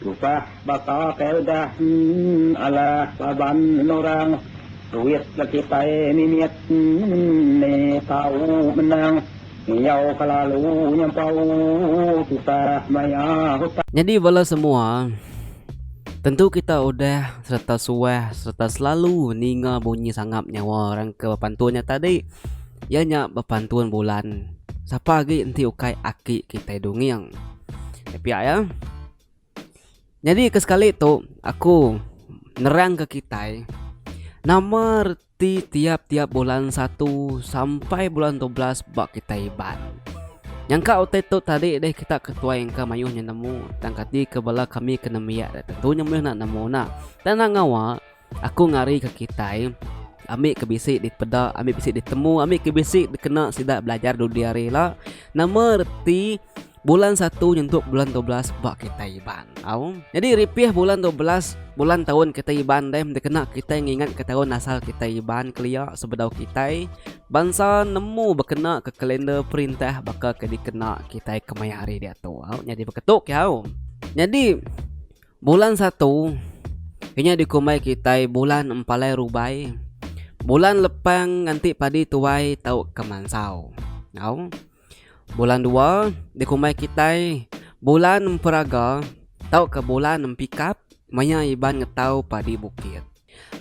Tusah baka kaedah emm alah laban orang duit ga kitai mimit emm ni tau menang ngiyau ka lalu nyampau tusah maya hutang. Nyadi bala semua, tentu kita udah sereta suah sereta selalu ninga bunyi sangap nyawa orang ke bepantun nya tadi iya nya bepantun bulan sapa agi enti ukai aki kitai dunging. Piak ya. Jadi ke sekali tu aku nerang ke kitai nama reti tiap-tiap bulan satu sampai bulan 12 ba kitai iban. Yang ka utai tu tadi deh kita ketuai engka mayuh nemu tang kati ke bala kami kena miak tentunya meh nak nemu nak. Tang nak ngawa Aku ngarika kitai ambi ke bisi dipeda, ambi bisi ditemu, ambi ke bisi dikena sida belajar dudi hari ila. Nama reti bulan satu nyentuk bulan dua belas ba kitai Iban tau. Jadi ripih bulan dua belas bulan taun kitai Iban deh dikena kitai ngingat ke taun asal kitai Iban kelia sebedau kitai bansa nemu bekena ke kalender perintah baka ke dikena kitai kemaya hari diatu. Au nyadi beketu kiau. Nyadi Bulan satu, inya dikumbai kitai bulan empalai rubai, bulan lepang nganti padi tuai tau ke mansau. Au. Bulan dua, dikumbai kitai bulan emperaga tauka bulan empikap maya iban ngetau padi bukit.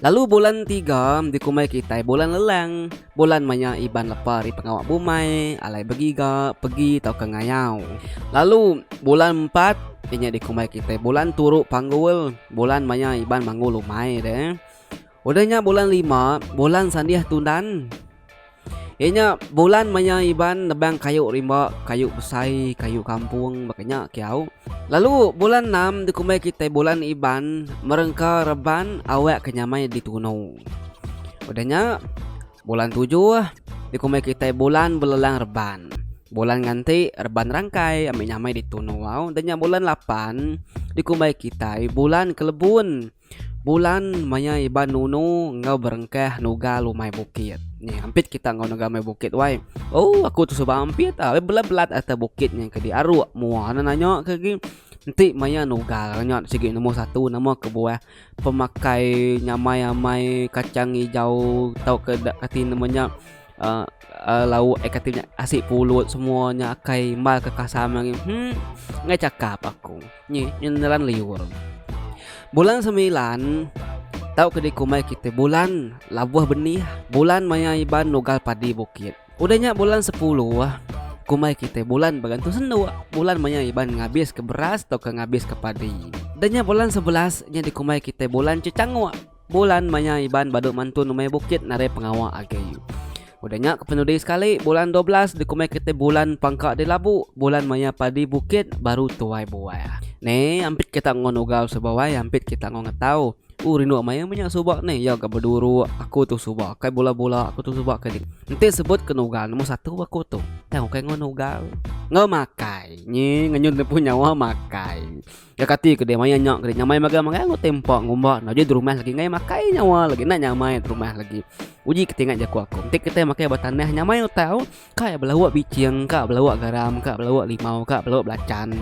Lalu bulan tiga dikumbai kitai bulan lelang. Bulan maya Iban lepa ari pengawa bumai, alai begiga, pegi tauka ngayau. Lalu bulan empat inya dikumbai kitai bulan turu panggul. Bulan maya Iban manggul umai deh. Udah nya bulan lima, bulan sandih tundan. Iya nya bulan maya Iban nebang kayu rimba, kayu besai, kayu kampung baka nya ke au. Lalu bulan enam dikumbai kitai bulan Iban merengka reban awak ke nyamai di tunu. Udah nya bulan tujuh dikumbai kitai bulan belelang reban. Bulan nganti reban rangkai ambi nyamai di tunu au. Udah nya bulan lapan dikumbai kitai bulan kelebun. Bulan maya iban nunu enggau berengkah nuga lumai bukit. Ni ampit kita enggau nuga lumai bukit wai. Oh aku tu suba ampit ah. Wai belat-belat atas bukit nya kedi aruk mua ne nanya ke gi. Enti maya nuga nya sigi nombor satu nama kebuah pemakai nyamai amai kacang ijau tauka dak kati nama nya. lauk ai kati nya asik pulut semua nya akai mal ke kasam ange humm enggai chakap aku nyi nyeran liur. Bulan semilan tau ke diku mai kite bulan labuh benih bulan maya iban nugal padi bukit udah nya bulan sepuluh ku mai kite bulan begantung sendu bulan maya iban ngabiske beras tauka ngabiske padi dah nya bulan sebelas nya dikumbai kite bulan chechangok. Bulan maya Iban badu mantun umai bukit narai pengawa agi. Udah nya kepenudi sekali bulan dua belas dikumai kitai bulan pangka di labu, bulan maya padi bukit baru tuai buah. Ne ampit kita enggau nugau suba wai ampit kita enggau ngetau. Uh rindu amat iya menya suba ne iya ga beduru aku tu suba kai bula-bula aku tu suba kai enti sebut ke nugau nombor satu aku tu tau kai enggau nugau enggau makai nyi ngenyun ne pu nyawa makai. Iya kati ke deh maya nya ke deh nyamai magang magang enggau tempa ngumba enda uji derumah lagi ngai makai nyawa lagi enda nyamai derumah lagi. Uji ke tingat jaku aku. Enti kitai makai ba tanah nyamai utai au, kai belawa bicing, ka belawa garam, ka belawa limau, ka belawa belacan.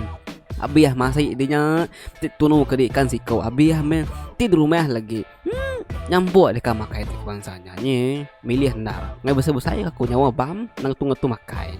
Abih masih di nya ti tunu ke di ikan siko abih meh ti derumah lagi. Hmm, nyambuk deka makai tik bangsa nya ni. Milih enda. Ngai besai-besai aku nyawa bam nang tu-tu makai.